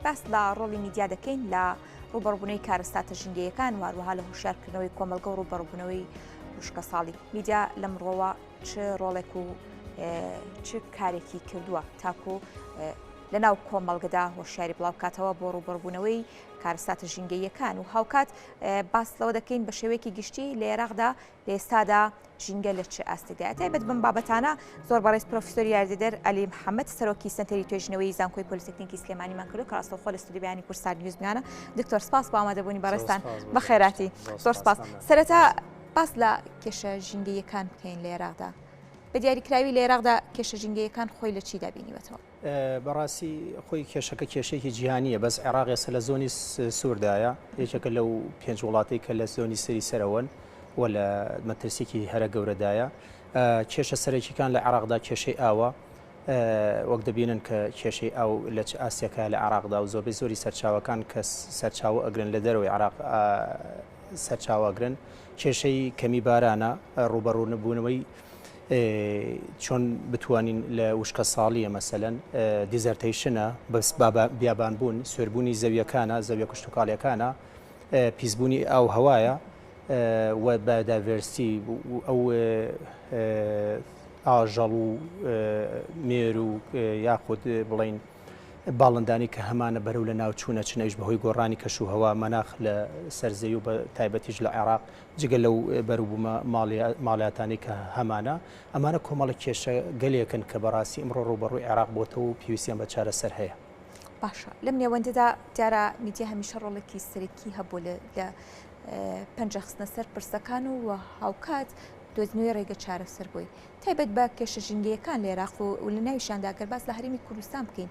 باس لە ڕۆڵی میدیا دەکەین لە ڕوبەڕبوونەوەی کارەساتە ژینگەیەکان واروها لە هوشارکردنەوەی کۆمەلگە و ڕوبەڕبوونەوەی وشکە ساڵی میدیا لەم ڕۆوە چ ڕۆڵێک و چ کارێکی کردووە تاکو لە ناو کۆمەڵگەدا هۆشیاری بڵاوکاتەوە بۆ ڕوبەربوونەوەی کارساتە ژینگەیەکان و هاوکات باس لەوە دەکەین بە شێوەیەکی گشتی لە عێراقدا لە ئێستادا ژینگە لە چ ئاستێکدایە؟ تایبەت بەم بابەتانە زۆر بەڕێز پرۆفیسۆر یاریدەدەر عەلی محەمەد سەرۆکی سەنتەری توێژینەوەی زانکۆی پۆلیتەکنیکی سلێمانیمان کردو کە ڕاستەوخۆ لە ستۆدیۆی بەیانی کورد سات نیوز میانە دکتۆر سپاس بۆ ئامادەبوونی بەڕێزتان بە خێراتی زۆر سپاس سەرەتا باس لە کێشە ژینگەیەکان بکەین لە عێراقدا بە دیاریکراوی لە عێراقدا کێشە ژینگەیەکان خۆی لە چیدا بینیوەتەوە؟ بەڕاستی خۆی کێشەکە کێشەیەکی جیهانیە بەس عێراق ئێستا لە زۆنی سووردایە یەکێکە لەو پێنج وڵاتی کە لە زۆنی سری سەرەوەن و لە مەترسیکی هەرە گەورەدایە کێشە سەرەکیەکان لە عراقدا کێشەی ئاوە وەک دەبینن کە کێشەی ئاو لە چ ئاستێکە لە عراقدا و زۆربەی زۆری سەرچاوەکان کە سەرچاوە ئەگرن لە دەرەوەی عراق سەرچاواگرن کێشەی کەمی بارانە ڕوبەڕوونەبوونەوەی چۆن بتوانین لە وشکە ساڵیە مەسەەن دیزەرتەیشنە بەس بیابان بوون سوێربوونی زەویەکانە زەویە کشتتوکالەکانە پیسبوونی ئاو هەوایە و بە داڤێرسی ئەو ئاژەڵ و مێر و یاخود بڵین باڵندانی کە هەمانە بەرەو لە ناوچوونە چنەویش بەهۆی گۆڕانی کەش و هەوا مەناخ لە سەرزەوی و بە تایبەتیش لە عێراق جگە لەو بەروبوومە ماڵیاتانەی کە هەمانە، ئەمانە کۆمەڵە کێشە گەلێکن کە بەڕاستی ئمڕۆ ڕووبەڕووی عێراق بۆتەوە و پێویستیان بە چارەسەر هەیە. باشە لەم نێوەندەدا دیارە میدیا هەمیشە ڕۆڵێکی سەرەکی هەبووە لە لە پەنجە خستنە سەر پرسەکان و و هاوکات دۆزنەوەی ڕێگە چارەسەر بۆی تایبەت بە کێشە ژینگەیەکان لە عێراق و لە ناویشیانداگەر باس لە هەرێمی کوردستان بکەین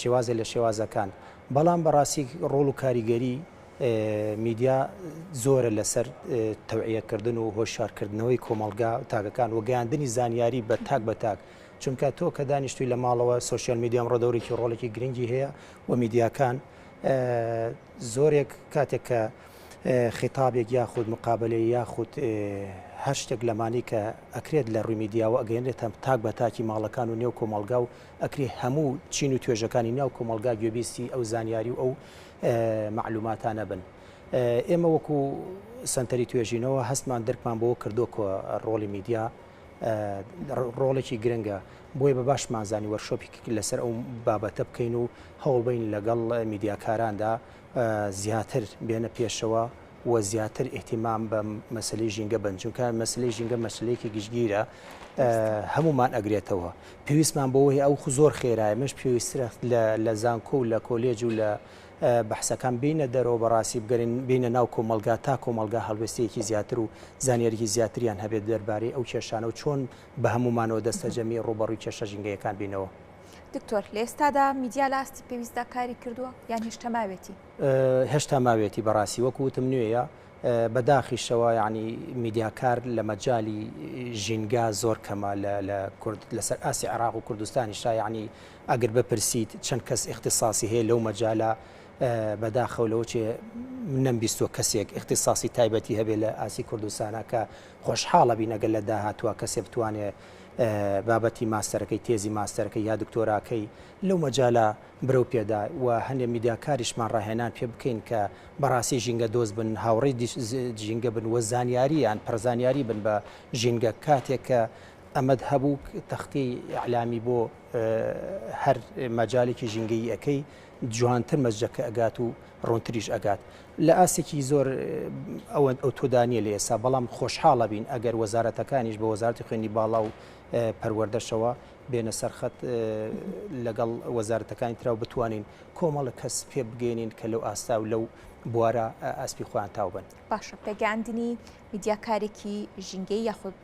شێوازێ لە شێوازەکان بەڵام بەڕاستی ڕۆڵ و کاریگەری میدیا زۆرە لەسەر تەوعیەکردن و هۆشارکردنەوەی کۆمەڵگا تاکەکان و گەیاندنی زانیاری بە تاک بە تاک چونکە تۆ کە دانیشتوی لە ماڵەوە سوسیال میدیام ڕۆدەورێکی ڕۆڵێکی گرنگی هەیە و میدیاکان زۆرێک کاتێک کە خیتابێک یاخود مقابلەی یاخود هەر شتێک لەمانی کە ئەکرێت لە ڕووی میدیاوە ئەگەێنێتە تاک بە تاکی ماڵەکان و نێو کۆمەلگا و ئەکرێ هەموو چین و توێژەکانی ناو کۆمەڵگا گوێبیستی ئەو زانیاری و ئەو مەعلوماتانە بن. ئێمە وەکو سەنتەری توێژینەوە هەستمان درکمان بۆ کردو کە ڕۆڵی میدیا ڕۆڵێکی گرنگە بۆی بە باشمان زانی وەرشۆپی لەسەر ئەو بابەتە بکەین و هەوڵبین لەگەڵ میدیاکاراندا زیاتر بێنە پێشەوە و زیاتر ئیهتیمام بە مەسلەی ژینگە بن چونکە مەسلەی ژینگە مەسلەیەکی گشتگیرە هەمومان ئەگرێتەوە پێویستمان بۆەوەی ئەو خو زۆر خێرای مەش پێویسترە لە زانکۆ و لە کۆلێج و لە بەحسەکان بینە دەرەوە بەڕاستی بگەرین بینە ناو کۆمەلگا تا کۆمەلگا هەڵوێستەیەکی زیاتر و زانیاریی زیاتریان هەبێت دەربارەی ئەو کێشانە و چۆن بە هەمومانەوە دەستەجەمی ڕوبەڕوی کێشە ژینگەیەکان بینەوە. دکتۆر لە ئێستادا میدیا لە ئاستی پێویستدا کاری کردووە یان هێشتا ماوێتی؟ هێشتا ماوێتی بەڕاستی وەکو وتم نوێیە بە داخیشەوە یعنی میدیاکار لە مەجای ژینگا زۆر کەمە لە کورد لەسەر ئاسی عراق و کوردستانی شایعنی ئەگر بپرسیت چەند کەس اختصاصی هەیە لەو مەجالە بەداخەو لەوە چێ منم بیستوە کەسێک اختصاصی تایبەتی هەبێ لە ئاسی کوردستانە کە خۆشحاڵە بینەگەل لە داهاتوە کەسێ بتوانێ بابەتی ماستەرەکەی تێزی ماستەرەکەی یا دکتۆراکەی لەو مەجالە برەو پێدا و هەندێ میدیاکاریشمان ڕاهێنان پێ بکەین کە بەڕاستی ژینگە دۆست بن، هاوڕێی ژینگە بن و زانیاریان پڕ زانیاری بن بە ژینگە، کاتێک کە ئەمەت هەبوو تەختەی ئیعلامی بۆ هەر مەجالێکی ژینگەیی ئەکەی جوانتر مەسجەکە ئەگات و ڕوونتریش ئەگات لە ئاستێکی زۆر ئەوەند ئەو تۆدانیە لە ئێستا بەڵام خۆشحاڵە بین ئەگەر وەزارەتەکانیش بە وەزارتی خوێنی باڵا و پەروەردەشەوە بێنە سەر خەت لەگەڵ وەزارەتەکانی تراو بتوانین کۆمەڵە کەس پێ بگەێنین کە لەو ئاستا و لەو بوارە ئەسپی خۆیان تاوبن باشە پێگەاندنی میدیاکارێکی ژینگەی یاخود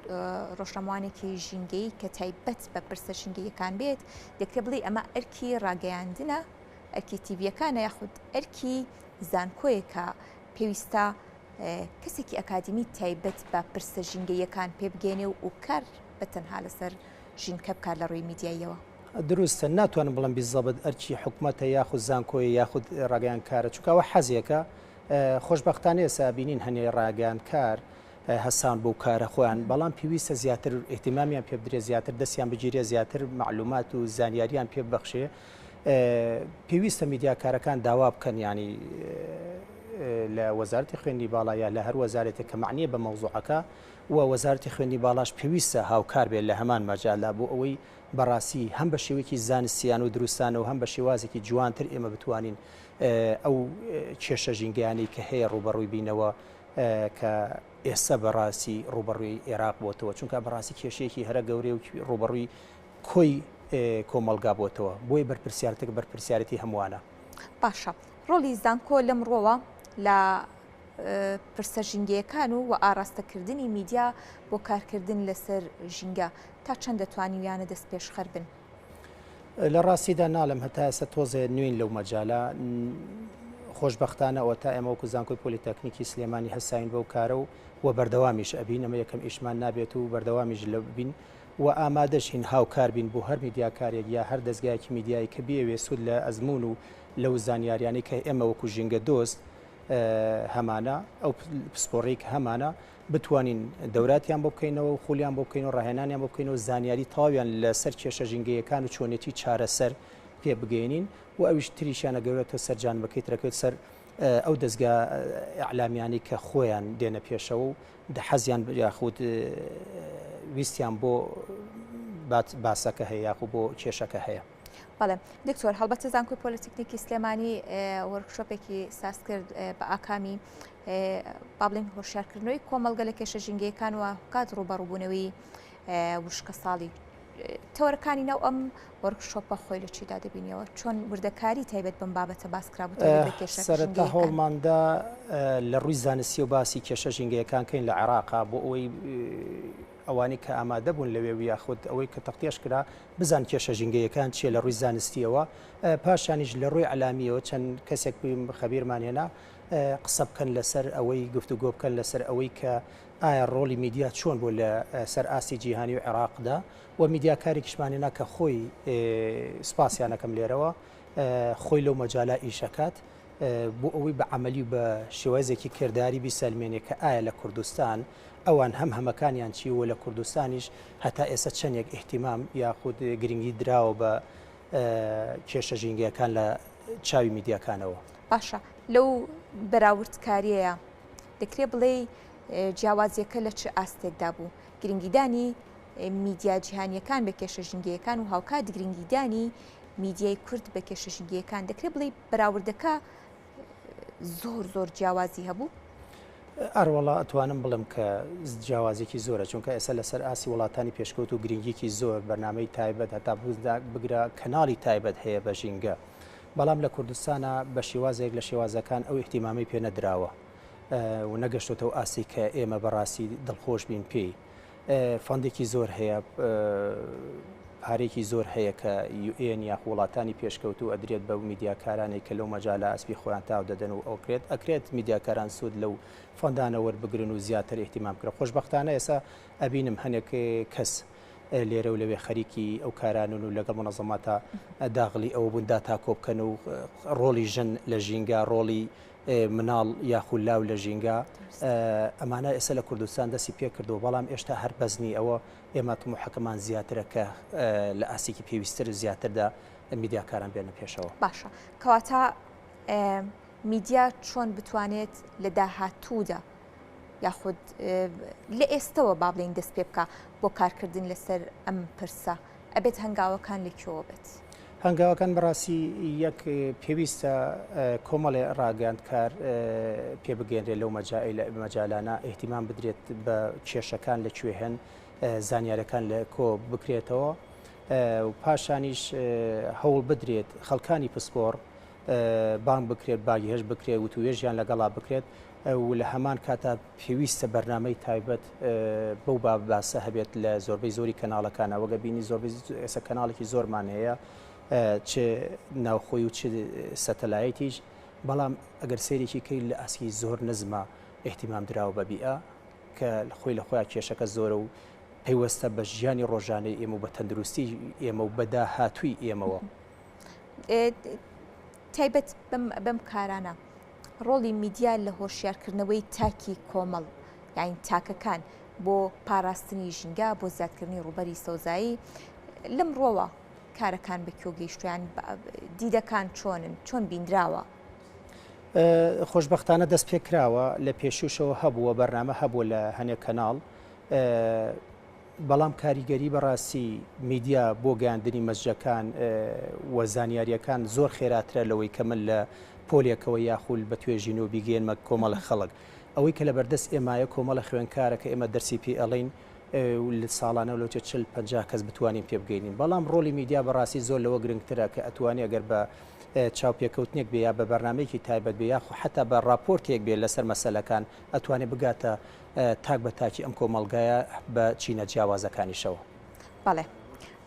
ڕۆژەموانێکی ژینگەی کە تایبەت بە پرسە ژینگەیەکان بێت دەکرێ بڵێ ئەمە ئەرکی ڕاگەیاندنە ئەرکی تیڤەکانە یاخود ئەرکی زانکۆیەکە پێویستە کەسێکی ئەکادیمی تایبەت بە پرسە ژینگەییەکان پێبگەینێ و و کار بە تەنها لەسەر ژینکە بکات لە ڕووی میدیاییەوە. دروستە ناتوانم بڵێم بیزەبت ئەرکی حکومەتە یاخود زانکۆیە یاخود ڕاگەیانکارە چونکە ئەوە حەزێکە خۆشبەختانە ئێستا ئەبینین هەنێ ڕاگەیانکار هەستان بەو کارە خۆیان بەڵام پێویستە زیاتر ئیهتیمامیان پێ بدرێت زیاتر دەستیان بگیرێت زیاتر مەعلومات و زانیاریان پێ ببەخشێ پێویستە میدیاکارەکان داوا بکەن یانی لە وەزارتی خوێندی باڵا یا لە هەر وەزارێتێک کە معنیە بە مەوزوعەکە و وەزارتی خوێندی باڵاش پێویستە هاوکار بێت لە هەمان مەجالا بۆ ئەوەی بەڕاستی هەم بە شێوەیەکی زانستیان و دروستانە و هەم بە شێوازێکی جوانتر ئێمە بتوانین ئەو کێشە ژینگەیانی کە هەیە ڕوبەڕووی بینەوە کە ئێستا بەڕاستی ڕوبەڕووی عێراق بۆتەوە چونکە بەڕاستی کێشەیەکی هەرە گەورەی و ڕوبەڕووی کۆی کۆمەڵگا بۆتەوە بۆیە بەرپرسیارتەکە بەرپرسیارەتی هەمووانە باشە ڕۆڵی زانکۆ لەم ڕۆوە لە پرسە ژینگەیەکان و و ئاراستەکردنی میدیا بۆ کارکردن لەسەر ژینگە تا چەند دەتوانیویانە دەست پێشخەر بن لە ڕاستیدا ناڵم هەتا ئێستا تۆزێ نوێن لەو مەجاالە خۆشببختانە ئەوە تا ئێمە وەکو زانکۆی پۆلیتەکنیکی سلێمانی هەساین بەو کارە و و بەردەوامیش ئەبین ئەمە یەکەم ئیشمان نابێت و بەردەوامیش لە بین و ئامادەشین هاوکار بین بۆ هەر میدیاکارێک یا هەر دەزگایەکی میدیایی کە بیەوێت سوود لە ئەزموون و لەو زانیاریانەی کە ئێمە وەکو ژینگە دۆست هەمانە ئەو پسپۆڕی کە هەمانە بتوانین دەوراتیان بۆ بکەینەوە و خولیان بۆ بکەین و ڕاهێنانیان بۆ بکەینەوە زانیاری تەواویان لەسەر کێشە ژینگەیەکان و چۆنێتی چارەسەر پێ بگەینین و ئەویش تریشیانە گەورێتەوە سەر جانمەکەی ترەکەوێت سەر ئەو دەزگا ئیعلامیانەی کە خۆیان دێنە پێشەوە و دە حەزیان ب یاخود ویستیان بۆ بات باسەکە هەیە یاخو بۆ کێشەکە هەیە بەڵێ دکتۆر هەڵبەتە زانکۆی پۆلیتکنیکی سلێمانی وەرکشۆپێکی ساز کرد بە ئاکامی بابلین هۆشارکردنەوەی کۆمەلگە لە کێشە ژینگەکان و کات ڕوبەڕوبوونەوەی وشکەساڵی تەوەرەکانی ناو ئەم وەرک شۆپە خۆی لە چیدا دەبینیەوە چۆن وردەکاری تایبەت بم بابەتە باسکرابووسەرەتا هەوڵماندا لە ڕووی زانستی و باسی کێشە ژینگەیەکان کەین لە عێراقا بۆ ئەوەی ئەوانەی کە ئامادە بوون لەوێ و یاخود ئەوەی کە تەختێش کرا بزان کێشە ژینگەیەکان چیە لە ڕووی زانستیەوە پاشانیش لە ڕووی علامیەوە چەند کەسێک بوویم خەبیرمان هێنا قسە بکەن لەسەر ئەوەی گفتوگۆ بکەن لەسەر ئەوەی کە ئایا ڕۆڵی میدیا چۆن بوو لە سەر ئاستی جیهانی و عێراقدا و میدیاکارێکیشمان هێنا کە خۆی سپاسیانەکەم لێرەوە خۆی لەو مەجالا ئیشەکات بۆ ئەوەی بە عملی و بە شێوازێکی کردداری بیسەلمێنێ کە ئایا لە کوردستان ئەوان هەم هەمەکانیان چی و لە کوردستانیش هەتا ئێستا چەندێک احتیمام یاخود گرنگی دراوە بە کێشە ژینگەکان لە چاوی میدیاکانەوە باشە لەو بەراوردکاریەیە دەکرێ بڵێ جیاوازیەکە لە چ ئاستێکدا بوو گرنگیدانی میدیا جیهانیەکان بە کێشە ژنگەکان و هاوکات گرنگیدانی میدیای کورد بە کێشە ژنگەکان دەکرێت بڵێ بەراوردەکە زۆر زۆر جیاوازی هەبوو ئەروەڵا ئەتوانم بڵم کە جیاوازێکی زۆرە چونکە ئێستا لەسەر ئاسی وڵاتانی پێشکەوت و گرنگیکی زۆر بەنامەی تایبەت هەتا بگرە کەناڵی تایبەت هەیە بە ژینگە بەڵام لە کوردستانا بە شێوازێک لە شێوازەکان ئەو ئیهتیمامەی پێ نەدراوە و نەگەشتۆتە ئەو ئاستەی کە ئێمە بە ڕاستی دڵخۆش بین پێی. فەندێکی زۆر هەیە، پارەیەکی زۆر هەیە کە یو ئێن یاخو وڵاتانی پێشکەوتوو ئەدرێت بە میدیاکارانێک کە لەو مەجالا ئەسپی خۆیان تاو دەدەن و ئەوکرێت ئەکرێت میدیاکاران سوود لەو فەندانە وەربگرن و زیاتر ئیهتیمام بکرێت. خۆشبەختانە ئێستا ئەبینم هەنێک کەس. لێرە و لەوێ خەریکی ئەو کارانن و لەگەڵ مونەزەماتە داغلی ئەوە بوون داتا کۆبکەن و ڕۆڵی ژن لە ژینگە ڕۆڵی مناڵ یاخود لاو لە ژینگە ئەمانە ئێستا لە کوردستان دەستی پێ کردو بەڵام ئێشتا هەر بەزنی ئەوە ئێمە تموحەکەمان زیاترە کە لە ئاستێکی پێویستتر و زیاتردا میدیاکاران بێنە پێشەوە باشە کەواتە میدیا چۆن بتوانێت لە داهاتوودا یاخود لە ئێستەوە با بڵێین دەست پێ بکە بۆ کارکردن لەسەر ئەم پرسە ئەبێت هەنگاوەکان لە کوێوە بێت؟ هەنگاوەکان بەڕاستی یەک پێویستە کۆمەڵێ ڕاگەاندکار پێ بگەێنرێت لەو مەجالانە ئەهتیمان بدرێت بە کێشەکان لە کوێ هەن زانیارەکان لە کۆ بکرێتەوە پاشانیش هەوڵ بدرێت خەڵکانی پسپۆڕ بانگ بکرێت باگهێشت بکرێت وتوێژیان لەگەڵا بکرێت و لە هەمان کاتا پێویستە بەرنمەی تایبەت بەو باب باسە هەبێت لە زۆربەی زۆری کەناڵەکانە وەگە بینی زۆربەی ئێسە کەناڵێکی زۆرمان هەیە چ ناوخۆی و چ سەتەلایەتیش بەڵام ئەگەر سێرێکی کرد لە ئاسکی زۆر نزمە احتیمام دراوە بە بیئە کە خۆی لە خۆیان کێشەکە زۆرە و پەیوەستە بە ژیانی ڕۆژانەی ئێمە و بە تەندروستی ئێمە و بەدا هاتووی ئێمەوە. تایبەت بەم کارانە ڕۆڵی میدیا لە هۆشیارکردنەوەی تاکی کۆمەڵ یاین تاکەکان بۆ پاراستنی ژینگە بۆ زیادکردنی ڕوبەری سەوزایی لەم ڕۆوە کارەکان بە کۆ گەیشتیان دیدەکان چۆنن چۆن بیندراوە خۆشببختانە دەست پێ کراوە لە پێشوشەوە هەبووە بەرنامە هەبووە لە هەنێک کەناڵ بەڵام کاریگەری بەڕاستی میدیا بۆ گەیاندنی مەسجەکان و زانیاریەکان زۆر خێراترە لەوەی کە من لە پۆلێکەوە یاخول بە توێژینەوە بیگەیەنمە کۆمەڵە خەڵک ئەوەی کە لەبەردەست ئێمایە کۆمەڵە خوێنکارە کە ئێمە دەرسی پێ ئەڵین لە ساڵانە لەوچە چل پ کەس بتوانین پێ بگەینین بەڵام ڕۆلی میدیا بەڕاستی زۆر لەوە گرنگترە کە ئەتوانی ئەگەر بە چاوپێکەوتنێک بێ یا بە بەرنمەیەکی تایبەت بێ یاخو حتا بە راپۆرتێک بێ لەسەر مەسلەکان ئەتوانێ بگاتە تاک بە تاکی ئەم کۆمەڵگایە بە چینە جیاوازەکانیشەوە. بەڵێ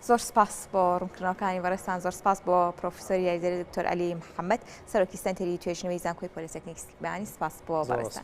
زۆر سپاس بۆ ڕوونکردنەوەکانی بەڕێزتان زۆر سپاس بۆ پرۆفیسۆری یاریدەری دکتۆر عەلی محەممەد سەرۆکی سەنتەری توێژینەوەی زانکۆی پۆلیتەکنیک سلێمانی سپاس بۆ بەڕێزتان.